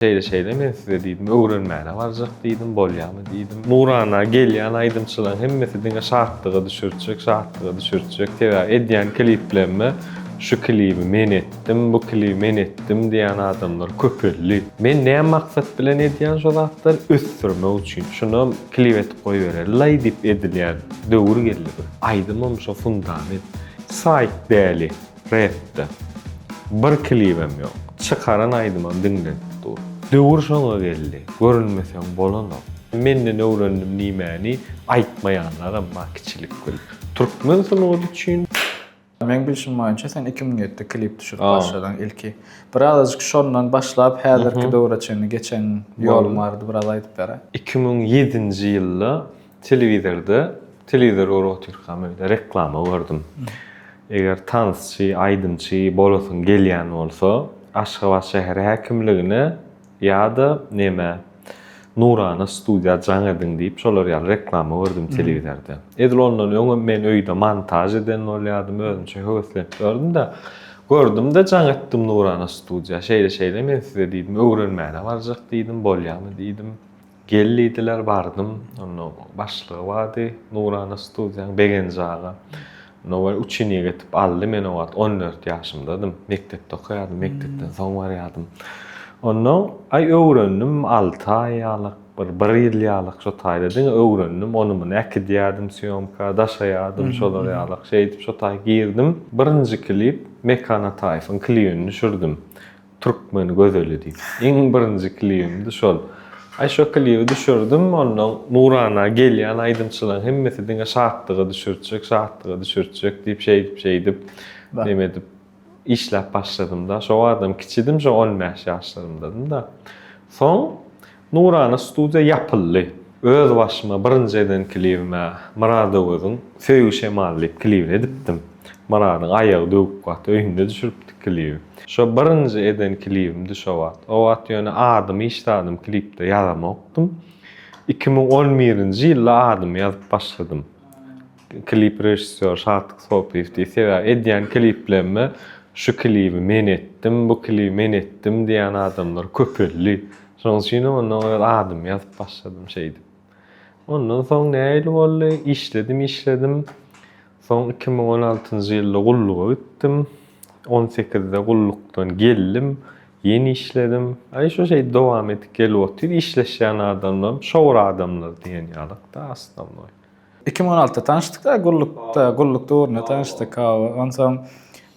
Şeýle-şeýle men size diýdim, öwrenmäne barjak diýdim, bolýamy diýdim. Nurana gelýän aýdymçylaň hemmesi diňe şatlyga düşürtjek, şatlyga düşürtjek, sebäbi edýän kliplerime şu klibi men etdim, bu klibi men etdim diýän adamlar köpeldi. Men näme maksat bilen edýän şo zatlary, ösdürmek üçin. Şunam klip edip goýberelilaý diýip edilýän döwür geldi bir. Aýdymym şo fundament. Saýt däli. Räpde. Bir klibem ýok. Çykaran aýdymam diňlenip dur. Döwür şoňa geldi. Görünmeseň bolanok. Menden öwrendim nimäni aýtmaýanlaram bar kiçilik bilip. Türkmen sungaty üçin. Meň bilşim boýunça sen iki müň ýetde klip düşürip başladyň ilki. Birazajyk şondan başlap häzirki döwre çenli geçen ýoluň barada biraz aýdyp beräý. Iki müň ýedinji ýylda Telewizorda, telewizor görüp otyrkam öýde reklama gördüm. Eger tansçy, aýdymçy bolasyň gelýän bolsa, Aşgabat şäher häkimligine ýa-da neme Nurana studiýa jaň ediň diýip şolar ýaly reklama gördüm telewizorda. Edil ondan öňem men öýde montaž eden bolýardym, özümçe höweslenip ýördüm-de, gördüm-de jaň etdim Nurana studiýa. Şeýle-şeýle men size diýdim, öwrenmäne barjak diýdim, bolýamy diýdim. Gel diýdiler, bardym. Onda başlygy bardy nurana studiýanyň, Begenji aga. Onda bir uçinýa getirip aldy. Men o wagt on dört ýaşymdadym. Mekdepde okaýardym, mekdepden soň barýardym. Onda, aý, öwrendim, alty aý ýalyk, bir bir ýyl ýalyk şo taýda diňe öwrendim. Ony-muny äkidýärdim sýomka, daşaýardym, şolar ýalyk. Şeýdip, şo taý girdim. Birinji klip Mekan Ataýewiň klibini düşürdim. Türkmen gözeli diýip. Iň birinji klibimdi şol. Aý şo klibi düşürdim, onnoň nurana gelýän aýdymçylaryň hemmesi diňe şatlyga düşürtjek, şatlyga düşürtjek diýip şeýdip şeýdip neme edip işläp başladymda. Şo wagtam kiçidim, şo on bäş ýaşlarymdadym-da. Soň Nurana studiýa ýapyldy. Öz başyma birinji eden klibim-ä Myrat Öweziň Söýgi şemaly diýip klibini edipdim. Myradyň aýagy döwük wagt öýünde düşüripdik klibi. Şo birinji eden klibimdi şo wagt. O wagt ýöne adymy hiç zadym klipde ýazamokdym. Iki müň on birinji ýylda adymy ýazyp başladym. Klip režissýor Şatlyk Sopyýew diýip, sebäbi edýän kliplerime şu klibi men etdim, bu klibi men etdim diýýän adamlar köpeldi. Şonuň üçinem ondan öz adymy ýazyp başladym şeýdip. Ondan soň nähili boldy? Işledim, işledim. Soň iki müň on altynjy ýylda gulluga gitdim. On sekizde gullukdan geldim. Ýene işledim. Aý şu şeýdip dowam edip gelip otyr. Işleşýän adamlarym şowur adamlar diýen ýalyk-da, aslynda. 2016-da tanyşdyk-da, gullukda, gulluk döwründe tanyşdyk. Hawa, onsoň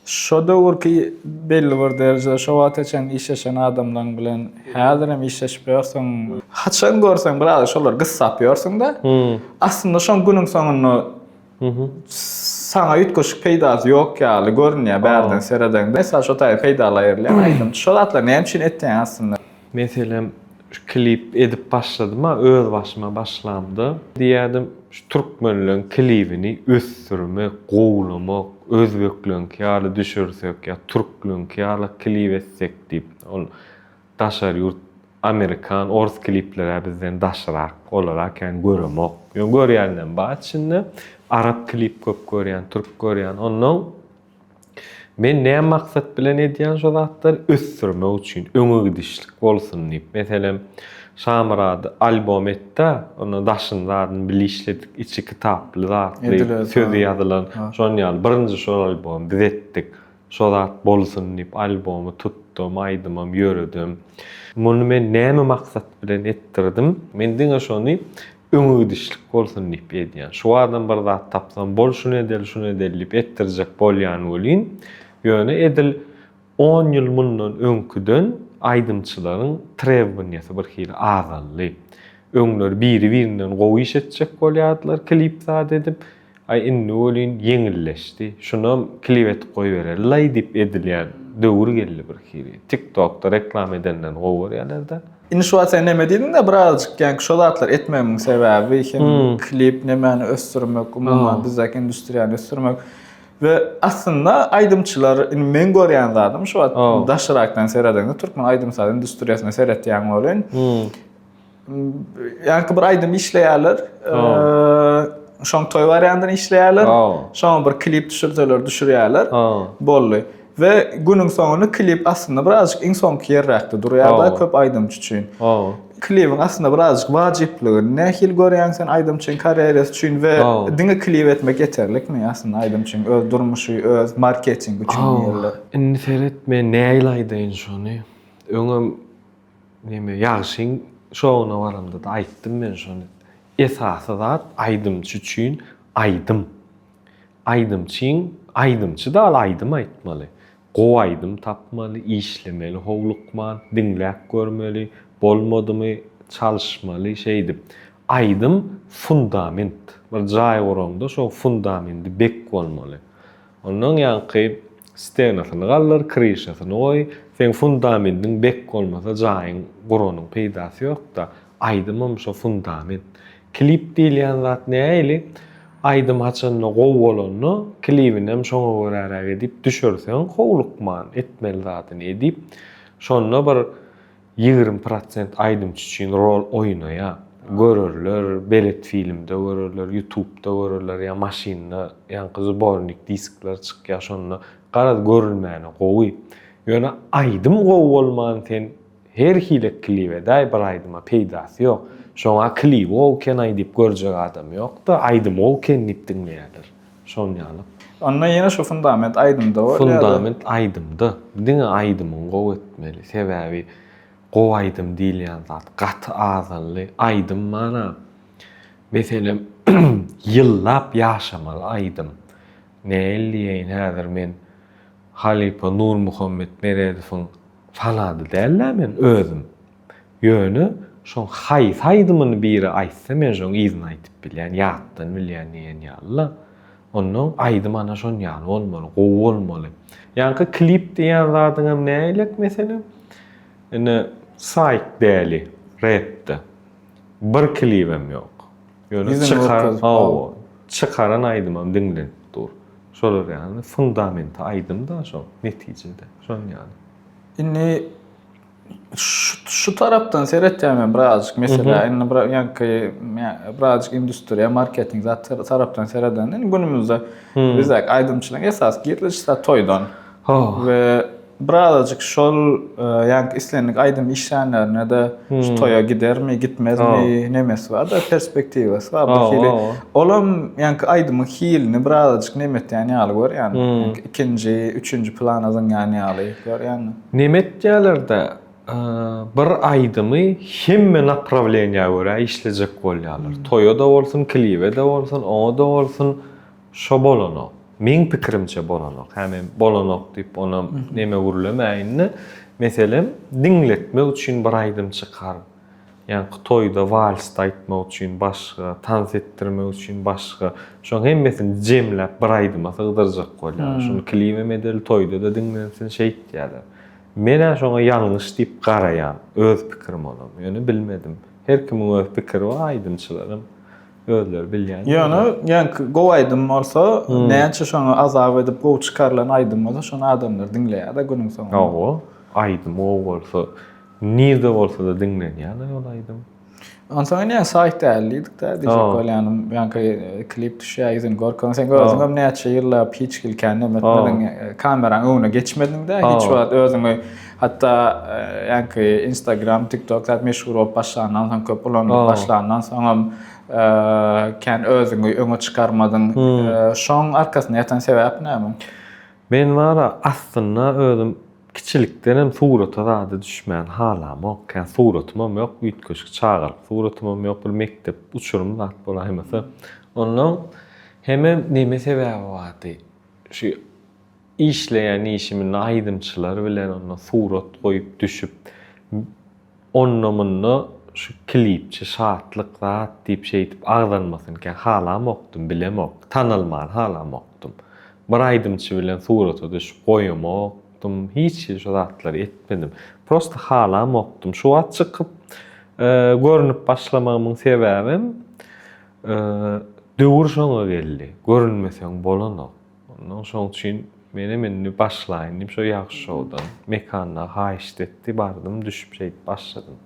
şo döwürki belli bir derejede şo wagta çenli işleşen adamlaryň bilen häzirem işleşip ýörsüň. Haçan görseň biraz şolary gyssap ýörsüň-de. Aslynda şoň günüň soňunda saňa üýtgeşik peýdasy ýok ýaly görünýär bärden seredeňde. Mysal şo taýy peýdalaýyrlaýyn aýdym. Şo zatlary näme üçin etýäň aslynda? Meselem şu klip edip başladym a öz başyma başlamda diýerdim şu türkmenleň klibini ösdürmek gowlamak özbekleňki ýaly düşürsek ýa türkleňki ýala klip etsek diýip ol daşary ýurt amerikan ors kliplerä bizden daşrak olara kän göremok ýöne görýändem bar içinde arap klip köp görýän türk görýän onnoň Men näme maksat bilen edýän şo zatlary? Ösdürmek üçin, öňe gidişlik bolsun diýip. Meselem, Şamyrady albom et-de, onda daşyny zadyny bile işledik, içi kitaply zatly, sözi ýazylan, şonuň ýaly. Birinji şol albomy biz etdik. Şo zat bolsun diýip, albomy tutdum, aýdymam ýöredim. Muny men näme maksat bilen etdirdim? Men diňe şony öňegidişlik bolsun diýip edýän. Şu bardan bir zat tapsam, bol şuny edeli, şuny edeli diýip etdirjek bolýan welin, ýöne edil on ýyl mundan öňküden aýdymçylaryň trewbaniýasy bir hili azaldy. Öňler biri-birinden gowy iş etjek bolýardylar, klip zat edip, Aý indi welin ýeňilleşdi. Şunam klip edip goýberer. Laý diýip edilýän döwür geldi birhili. Tik tokda reklama edenden gowy görýälerda. Indi şu wagt sen neme diýdiňdä birazajyk ýaňky şo zatlary etmegimiň sebäbi hem klip nemäni ösdürmek umuman bizdäki industriýany ösdürmek we aslynda aýdymçylar indi meň görýän zadym şu wagt daşrakdan seredeňde türkmen aýdym saz industriýasyna seretýäň welin Ýarky bir aýdym işleýärler. Şoň toý wariantyny işleýärler. Şoň bir klip düşürseler düşürýärler. Boldy. We günüň soňunda klip aslynda birazjyk iň soňky ýerräkde durýar-da köp aýdymçy üçin. Klibiň aslynda birazjyk wajyplygyny nähili görýäň sen aýdymçyň karýerasy üçin we diňe klip etmek ýeterlikmi aslynda aýdymçyň öz durmuşy, öz marketingi üçin diýýärler. Indi seret men nähili aýdaýyn şony. Öňem Neme, ýagşyň şowuna baramda-da aýtdym men şony. Esasy zat aýdymçy üçin aýdym. Aýdymçyň aýdymçy dal aýdym aýtmaly. Gowy aýdym tapmaly, işlemeli howlukman, diňläp görmeli, bolmadymy çalyşmaly şeýdip. Aýdym fundament. Bir jaý guraňda şo fundamendi bek bolmaly. Ondan ýaňky stenasyny galdyr, kryşasyny goý, seň fundamendiň bek bolmasa jaýyň guranyň peýdasy ýokda, aýdymam şo fundament. Klip diýilýän zat näili, aýdym haçanda gowy bolanda klibinem şoňa göräräk edip düşürseň howlukman, etmeli zadyny edip, şonda bir Ýigrimi prosent aýdymçy üçin rol oýnaýar. Görerler, belet filmde görerler, ýutubda görerler ýa maşynda ýaňky zbornik diskler çykýar şonda. Garaz görülmäne gowy. Ýöne aýdym gowy bolman sen her hile klip edäý bir aýdyma peýdasy ýok. Şoňa klibi gowy ekenaý diýip görjek adam ýokda aýdymy gowy eken diýip diňleýärler. Şol ýaly. Onda ýene şu fundament aýdymda bolýar. Fundament aýdymda. Diňe aýdymyňy gowy etmeli. Sebäbi gowy aýdym diýilýän zat gaty azally. Aýdym mana meselem ýyllap ýaşamaly aýdym. Näil diýeýin häzir men halypa Nurmuhammet Meredowyň fanady däl-ä men özüm. Ýöne şoň haýsy aýdymyny biri aýtsa men şoň yzyny aýdyp bilýän, ýatdan bilýän diýen ýalyda. Onnoň aýdym ana şon ýaly bolmaly, gowy bolmaly. Ýaňky klip diýýän zadyňam näileik meselem? Ine saýk däli repde. Bir klibem ýok. Ýöne çykar hawa, çykaran aýdymam diňlenip dur. Şolar ýaly fundament aýdym-da şoň netijede. Şon ýaly. Indi Şu tarapdan seretýän men birazcık mesela indi bir ýanky birazcık industriýa marketing zat tarapdan seredende indi günümizde biz aýdymçylaryň esas girdejisi zat toýdan we birazcık şol ýanky islendik aýdym işlänlerine de şu toýa gidermi gitmezmi nemesi bar da perspektiwasy bar bu hili olam ýanky aýdymyň hilini birazcık nemetýän ýaly görýän ikinji üçünji plana zyňýan ýaly görýän. Nemetdýälerde bir aýdymy hemme naprawleniýa görä işlejek bolýalar. Toýa-da bolsun, klibe-de bolsun, oňa-da bolsun şo bolanok. Meň pikirimçe bolanok. Hä men bolanok diýip onam neme gürlemäýin-de, meselem, diňletmek üçin bir aýdym çykaryp, Ýaňky toýda walsda aýtmak üçin başga, tans etdirmek üçin başga. Şoň hemmesini jemläp bir aýdyma sygdyrjak bolýarlar. Şuny klibem edeli, toýda-da diňlensin şeýtýärler. Men-ä şoňa ýalňyş diýip garaýan, öz pikirim olam. Ýöne bilmedim. Her kimiň öz pikiri bar, aýdymçylaram özleri bilýän. Ýöne ýaňky gowy aýdym bolsa, näçe şoňa azap edip gowy çykarylan aýdym bolsa, şony adamlar diňleýär-de günüň soňunda. Hawa, aýdym gowy bolsa, Nirde bolsada diňlenýäler ol aýdym. Onsoň ine saýt däl diýdikdä diýjek bolýanym. Ýaňky klip düşýär ýüzüni görkezmek. Sen özüňem näçe ýyllap hiç hili kän näme etmediň. Kameraň öňüne geçmediňdä hiç wagt özüňi hatda ýaňky Instagram, TikTok zat meşhur bolup başlandan soň köp ulanylyp başlandan soňam kän özüňi öňe çykarmadyň. Şoň arkasynda ýatan sebäp näme? Men bara aslynda özüm kiçilikdenem surata zada düşmäni halamok. Ýa suratymam ýok, üýtgeşik çagalyk suratymam ýok, bir mekdep uçurum zat bolaýmasa. Onnoň hemem neme sebäbi bardy, şu işleýän işiminde aýdymçylar bilen onda surat goýup düşüp, Onda-munda şu klipçi Şatlyk zat diýip şeýdip agzalmasynykäm halamokdym, bilemok, tanalmany halamokdym. Bir aýdymçy bilen surata düşüp goýamokdym, hiç hili şu zatlary etmedim. Prosta halamokdym. Şu wagt çykyp görnüp başlamagymyň sebäbem döwür şoňa geldi. Görünmeseň bolanok. Ondan şoň üçin menem indi başlaýyn diýip, şo Ýagşy şoudan Mekanda haýyşt etdi, bardym, düşüp şeýdip başladym.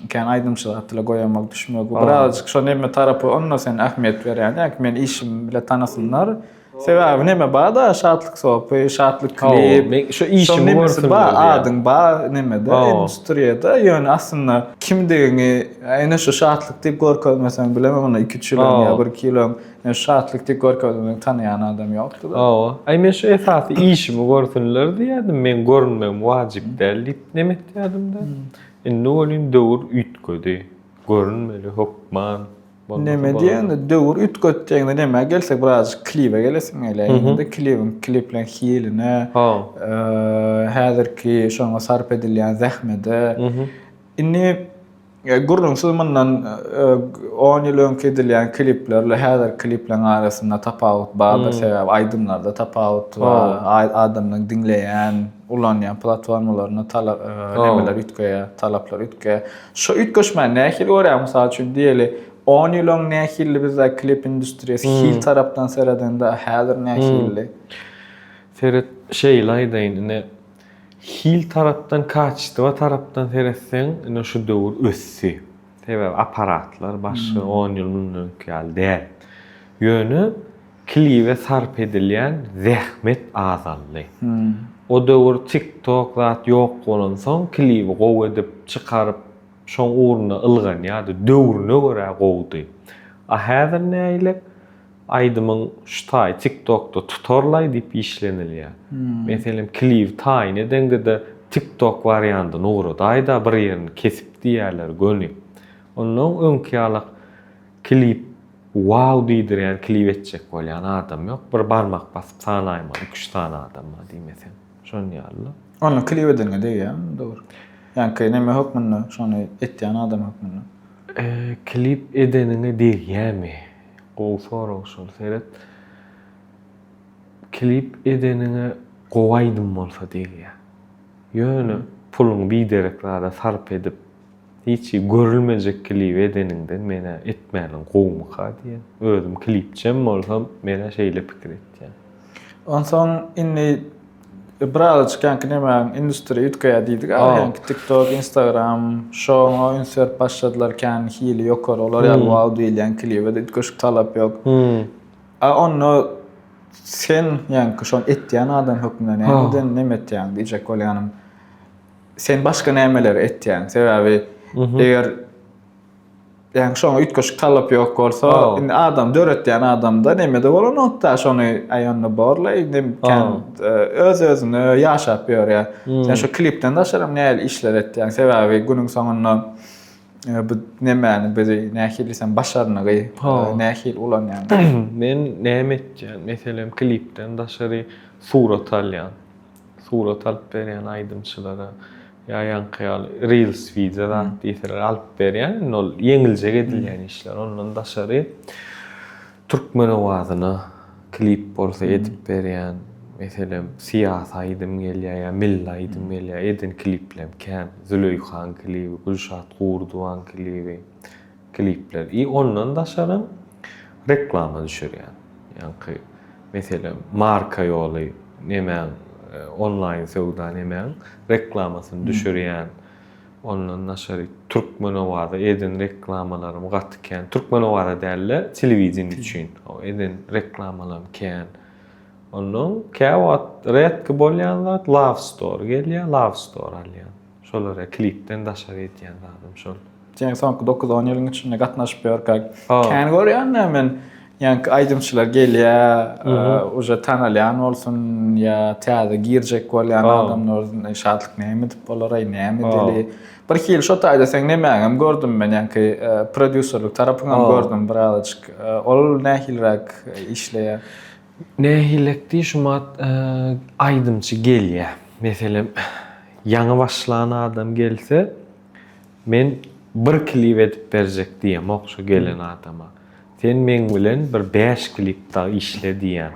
Kän aýdymçylar atly goýamak, düşmek, bu birazajyk şo neme tarapy, onda sen ähmiýet berýän ýa-ki meni işim bile tanasynlar. Sebäbi neme bar-da, Şatlyk sopy, Şatlyk klip, şo nemesi bar, adyň bar nemede, industriýada, ýöne aslynda kimdigiňi ene şo Şatlyk diýip görkezmeseň bilemem onda iki-üç ýyl öň ýa bir-iki ýyl öň. Ýöne şatlyk diýip görkezmegi tanaýan adam ýokdy-da. Hawa. Aý men şu esasy işimi görsünler diýýärdim, meň görünmegim wajyp däl diýip nem etýärdim-de. Indi welin döwür üýtgedi. Görünmeli hökman. Neme diýende, döwür üýtgedi diýende nämä gelsek birazajyk klibe gelesiň gelýär. Indi klibiň klipleriň hiline, häzirki şoňa sarp edilýän zähmede. Indi E, gürrüňsiz mundan e, on ýyl öňki edilýän kliplerle häzirki klipleriň arasynda tapawut bardyr. Hmm. Sebäbi aýdymlarda tapawut bar. Adamlaryň diňleýän, ulanýan platformalaryna talap e, nemeler üýtgeýär, talaplar üýtgeýär. Şu üýtgeşmäni nähili görýär? Mysal üçin diýeli, 10 ýyl öň nähili bizde klip industriýasy hmm. hil tarapdan seredende häzir nähili? Hmm. Seret, şeýle aýdaýyn, indi Hil tarapdan, kaçystywa tarapdan seretseň, ine şu döwür ösdi. Sebäbi apparatlar başga on ýyl mundan öňki ýaly däl. Ýöne klibe sarp edilýän zähmet azaldy. O döwür TikTok zat ýok bolansoň, klibi gowy edip çykaryp, şoň ugruna ylganýardy. Döwrüne görä gowudy. A häzir nägile? Aýdymyň şu taýy TikTokda tutarlaý diýip işlenilýär. Meselem klibi taýyn edeňde-de TikTok wariandyny ugradaýda bir ýerini kesip diýýärler göni. Onnoň öňki ýalak klip wow diýdirýän klip etjek bolýan adam ýok. Bir barmak basyp sanaýmaly iki-üç sany adama diýmesem. Şon ýaly-la. Onda klip edeniňe degýärmi dogry? Ýaňky neme hökmünde şony etýän adam hökmünde? Klip edeniňe degýämi? Gowy sorag şol seret klip edeniňe gowy aýdym bolsa degýä. Ýöne puluňy biderek zada sarp edip hiç görülmejek klibi edeniňden menä etmäliň gowumyka diýen. Özüm klipçem bolsam menä şeýle pikir etýän. Onsoň indi Ybraza çykanki nemäň industri üýtgeýär diýdik aga hänki tiktok, instagram şoňa üns berip başladylar kän hili ýokary olar ýaly wow diýilýän klibede üýtgeşik talap ýok. A onda sen ýaňky şony etýän adam hökmünde nämeden neme etýäň diýjek bolýanym. Sen başga nämeleri etýäň? Sebäbi eger Yani şoňa üýtgeşik talap ýok bolsa, oh. indi adam döretýän adamda neme-de bolanokda, şony aýanda borla, indi kän e, öz-özüne ýaşap ýörýär. Hmm. Sen şu klipden daşaram nähili işler etýäň? Sebäbi günüň soňunda e, bu nemäni bizi nähili sen başarnygy, e, nähili ulanýaň? Men näme etýän? Meselem, klipden daşary surat alýan. surat alyp berýän aýdymçylara ýa ýaňky ýaly reels wideo zat diýseler alyp berýän indi ol ýeňiljek edilýän işler ondan daşary türkmen owazyna klip bolsa edip berýän meselem syýasy aýdym gelýär ýa milli aýdym gelýär eden kliplem kän züleýhaň klibi gülşat gurdowaň klibi klipler i ondan daşaram reklama düşürýän ýaňky meselem marka ýoly nemäň onlaýn söwda nemäň reklamasyny düşürýän ondan daşary türkmenowaza eden reklamalarym gaty kän türkmenowaza dälde telewideniýe üçin eden reklamalarym kän onnoň käwagt redki bolýan zat love store gelýär love store alýan. Şolara klipden daşary etýän zadym şol. Seniň soňky dokuz on ýylyň içinde gatnaşyp ýörkäk kän görýän da men ýaňky aýdymçylar gelýä uje tanalýan bolsun ýa täze girjek bolýan adamlar şatlyk näme edip bolaray näme edeli bir hili şo taýda seň nemäňem gördüm men ýaňky prodýuserlik tarapyňam gördüm birazajyk ol nähiliräk işleýä. Nähilekdi şumat aýdymçy gelýä. Meselem ýaňy başlan adam gelse men bir klip edip berjek diýemok şo gelen adama. Sen meň bilen bir bäş klip dagy işle diýýän.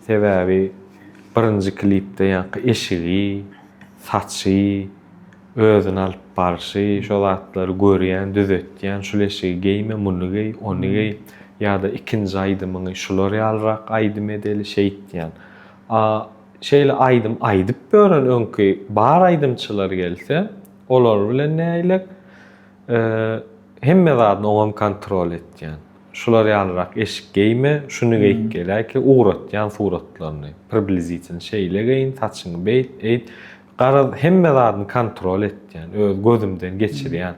Sebäbi birinji klipde ýaňky eşigi, saçy, Özüni alyp barşy, şo zatlary görýän, düzetýän, şul eşigi geýme, muny geý, ony geý, ýa-da ikinji aýdymyňy şular ýalyrak aýdym edeli, şeýtýän. A şeýle aýdym aýdyp ýören öňki bar aýdymçylar gelse, olar bilen näýlek? Hemme zadyny oňam kontrol etýän. Şular ýalyrak eşik geýme, şuny geýip geläýki, ugratýan suratlaryny, priblizitilny şeýle geýin, saçyňy beýt, eýt. Garaz, hemme zadyny kontrol etýän, öz gözümden geçirýän.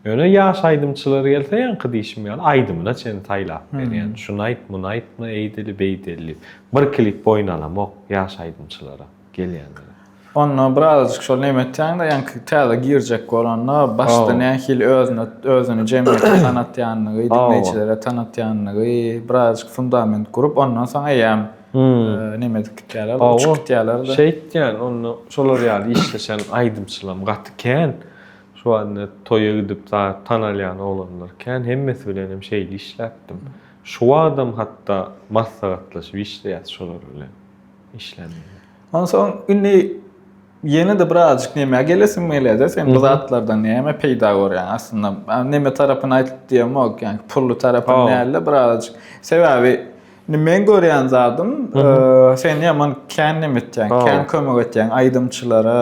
Ýöne ýaş aýdymçylar gelse, ýaňky diýşim ýaly, aýdymyna çenli saýlap berýän. Şuny aýt, muny aýtma, eýdeli, beýdeli diýip. Bir klip oýnalamok ýaş aýdymçylara, gelýänlere. Onda birazajyk şol neme etýäň-de, ýaňky täze girjek bolanda, başda nähili özüne, özüni jemgyýete tanatýanlygy, diňleýjilere tanatýanlygy, birazajyk fundament gurup, ondan soň eýýäm. Nemedik gitýärler, uçup gitýärler-de. Şeý etýän, onda şolar ýaly işleşen aýdymçylam gaty kän. Şu wagtda toýa gidip tanalýan oglanlar kän. Hemmesi bilen hem şeýle işläpdim. Şu wagtam hatda maslahatlaşyp işleýäs şolar bilen. Onsoň indi Ýene-de birazajyk nämä gelesim gelýär-de, sen bu zatlardan näme peýda görýäň? Aslynda, neme tarapyny aýdyp diýemok, ýagny pully tarapyny däl-de, birazajyk. Sebäbi men görýän zadym, sen ýaman kän neme etýäň, kän kömek etýäň aýdymçylara.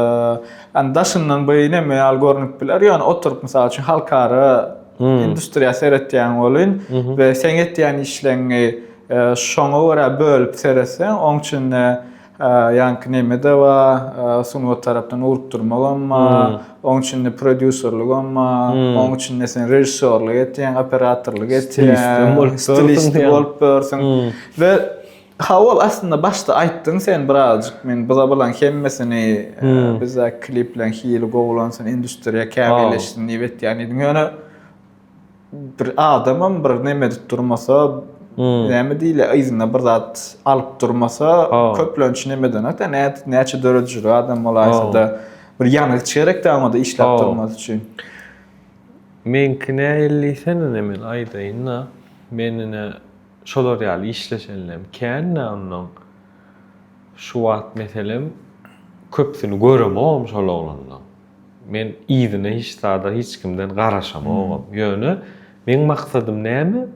Ýagny daşyndan bu neme ýaly görnüp biler, ýöne oturyp, mysal üçin, halkara industriýa seretýän welin we seň etýän işleriňi şoňa görä bölüp seretseň, oň üçin-de, Ýaňky nemede ba, sungat tarapdan ugrukdyrmagam ba, oň içinde prodýuserligem ba, oň içinde sen režissýorlyk etýäň, operatorlyk etýäň, stilist bolup ýörsüň. We ha ol aslynda başda aýtdyň sen birazajyk men bu zabalaryň hemmesini bizdäki klipleriň hili gowulansyn, industriýa kämilleşsin diýip etýän diýdiň. Ýöne bir adamam bir neme edip durmasa, hmm. näme diýle, yzyna bir zat alyp durmasa, köplenç neme denek de, näçe döredijili adam bolaýsa da, bir ýangyç gerek de onda işläp durmasy üçin. Meňki nähili diýsene neme aýdaýyn-da, men ine şolar ýaly işleşenlem kän-de ondan. Şu wagt meselem köpsüni göremogam şol oglanlaryň. Men yzyna hiç zada hiç kimden garaşamogam. Ýöne meň maksadym näme?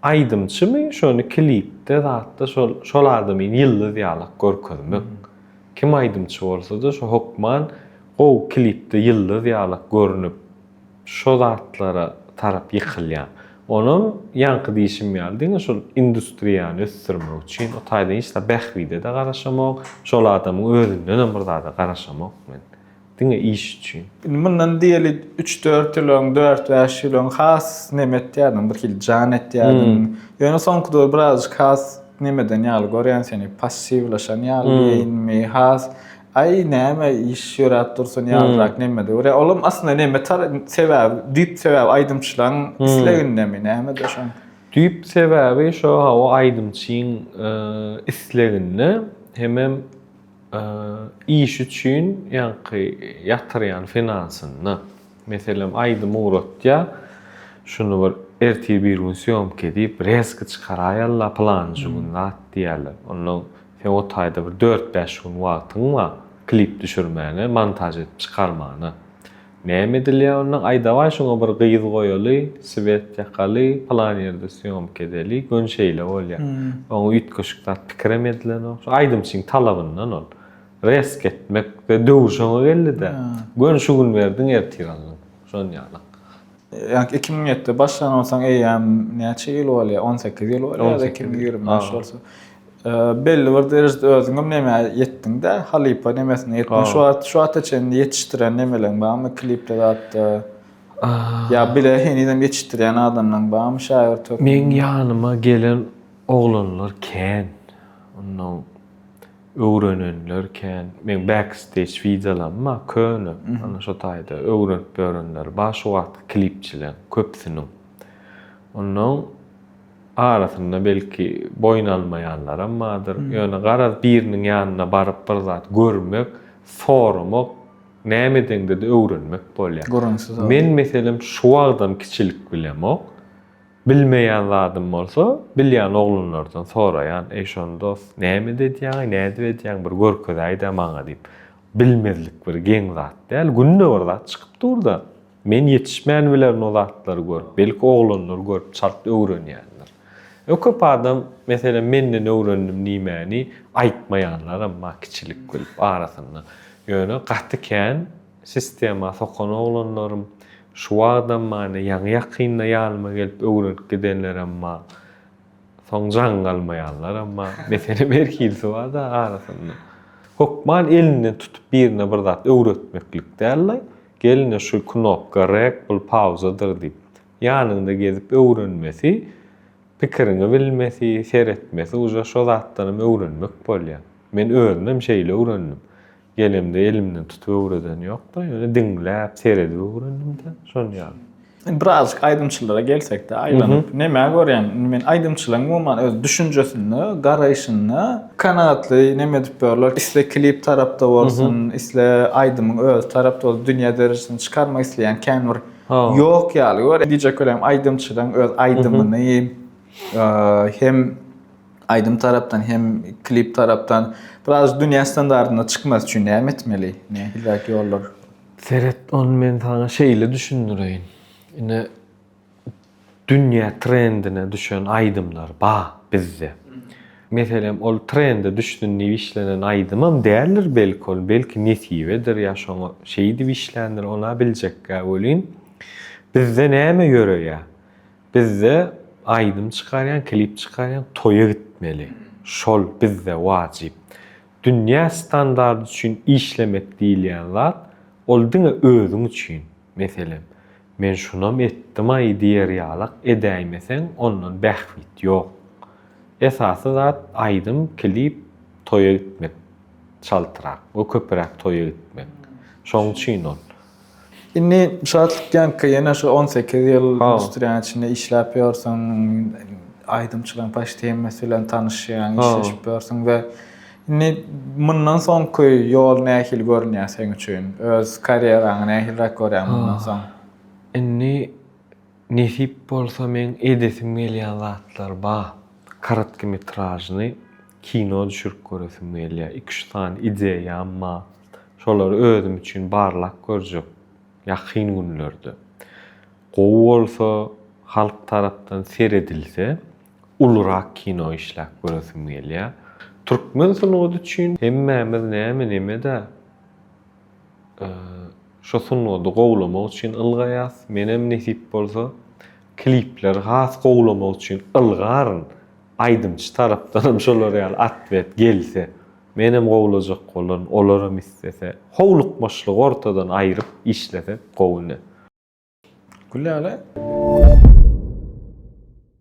Aýdymçymy şony klipde zatda şol şol adamyny ýyldyz ýalak görkezmek. Kim aýdymçy bolsada şu hokman gowy klipde ýyldyz ýalak görnüp. şo zatlara tarap ýykylýar. Onam ýaňky diýşim ýaly diňe şol industriýany ösdürmek üçin, o taýdan hiç zat bähbide-de garaşamok, şol adamyň özündenem bir zada garaşamok men. Diňe iş üçin. Indi mundan diýeli üç-dört ýyl öň, dört-bäş ýyl öň has neme etýärdiň, birhili jan etýärdiň. Ýöne soňky döwür birazajyk has nemeden ýaly görýän seni, passiwlaşan ýaly diýeýinmi, has Aý näme iş ýöräp dursun ýalyrak neme de görýär. Olam aslynda neme tar sebäbi, düýp sebäbi aýdymçylaryň islegindemi, nämede şoň? Düýp sebäbi şo hawa aýdymçyň isleginde hemem iş üçin ýaňky ýatyrýan finansynda. Meselem aýdym ugratýar, şuny bir ertir bir gün sýomka edip rezki çykaraýala pylanjy gün zat diýýärler. Onnoň Sen o taýda bir dört-bäş gün wagtyň bar klip düşürmäne, montaž edip çykarmana. Näme edilýä onda, aýdawaý şoňa bir gyz goýaly, swet ýakaly, pylan ýerde sýomka edeli, göni şeýle bolýa. Oňa üýtgeşik zat pikirem edilenok. Şu aýdymçyň talabyndan ol. Resk etmek, döwür şoňa geldi-dä. Göni şu gün berdiň, ertir aldyň. Şon ýaly. Ýa-da iki müň ýetde başlan bolsaň, eýýäm näçe ýyl bolýar? On sekiz ýyl bolýar, iki müň ýigrimi bäş bolsa. Belli bir derejede özüňem nämä ýetdiň-dä, halypa nemesine ýetdiň. Şu wagt, şu wagta çenli ýetişdiren nemeleriň barmy, klipli zatda? Ýa bile henizem ýetişdirýän adamlaryň barmy, şägirt hökmünde? Meň ýanyma gelen oglanlar kän. Onnoň. Öwrenenler kän. Meň backstage wideolaym bar köne, ana şo taýda öwrenip ýörenler bar şu wagtky klipçileriň köpüsiniň. Onnoň arasynda belki boýun almaýanlaram bardyr. Ýöne garaz biriniň ýanyna baryp bir zat görmek, soramak, näme edeňde-de öwrenmek bolýar. Men meselem şu wagtam kiçilik bilemok. Bilmeýän zadym bolsa, bilýän oglanlardan soraýan, Eý, şony dos, näme ededýäň-eý, nädip edýäň, bir görkezäý-dä maňa diýip. Bilmezlik bir geň zat däl. Günde bir zat çykyp dur-da. Men ýetişmän bilerin o zatlary görüp. Belki, oglanlar görüp çalt öwrenýändir. Öň köp adam, meselem, menden öwrendim diýmäni aýtmaýanlaram bar kiçilik bilip arasynda. Ýöne gaty kän. Sistema sokan oglanlarym şu wagtam mane ýaňy-ýakynda ýanyma gelip öwrenip gidenlerem bar. Soň jaň galmaýanlaram bar. Meselem her hilisi bar-da arasynda. Hökman elinden tutup birine bir zat öwretmeklik däl-de, gelne şu knopka rek bul pauzadyr diýip, ýanyňda gezip öwrenmesi, pikiriňi bilmesi, seretmesi uje şo zatdanam öwrenmek bolýar. Men özümem şeýle öwrendim. Gelemde elimden tutup öwreden ýokdy. Ýöne diňläp, seredip öwrendim-de, şon ýaly. Birazajyk aýdymçylara gelsek-de, aýlanyp, nämä görýäň? Indi men aýdymçylaryň umuman öz düşünjesinde, garaýşynda kanagatly näme edip ýörler? Isle klip tarapda bolsun, isle aýdymyň özi tarapda bolsun, dünýä derejesinde çykarmak isleýän kän bir ýok ýaly görýän. Diýjek welin, aýdymçylaryň öz aýdymyny hem. aýdym tarapdan hem klip tarapdan biraz dünýä standartyna çykmasy üçin näme etmeli? Nähiliräk ýollar? Seret, ony men saňa şeýle düşündireýin. Ine, dünýä trendine düşen aýdymlar bar bizde. Meselem, ol trende düşsün diýip işlenen aýdymam däldir belki ol, belki nesibedir ýa şoňa şeýdip işländir, ony-a biljekgä welin, bizde näme ýöreýär? Bizde aýdym çykarýaň klip çykarýaň toýa gitmeli şol bizde wajyp. Dünýä standardy üçin işlemek diýilýän zat ol diňe özüň üçin. Meselem men şunam etdimaý diýer ýalak edäýmeseň ondan bähbit ýok. Esasy zat aýdym klip toýa gitmek çaltrak we köpüräk toýa gitmek. Şoň üçin ol. Indi şatlyk ýaňky ýene şu on sekiz ýyl industriýanyň içinde işläp ýörsüň, aýdymçylaryň paçti hemmesi bilen tanyşýaň, işleşip ýörsüň we indi mundan soňky ýol nähili görünýär seň üçin? Öz karýeraňy nähiliräk görýäň mundan soň? Indi nesip bolsa meň edesim gelýän zatlar bar. Korotkometražnyý kino düşürip göresim gelýär. Iki-üç sany ideýam bar. Şolary özüm üçin barlap görjek ýakyn günlerde. Gowy bolsa, halk tarapdan seredilse, ulurak kino işläp göresim gelýär. Türkmen sungaty üçin hemmämiz näme-neme-dä. Şu sungady gowlamak üçin ylgaýas. Menem nesip bolsa, klipleri has gowlamak üçin ylgaryn. Aýdymçy tarapdanam şolar ýaly otwet gelse. Menem gowlajak bolaryn, olaram islese. Howlukmaçlygy ortadan aýryp işlesek gowy ne. Gülläne.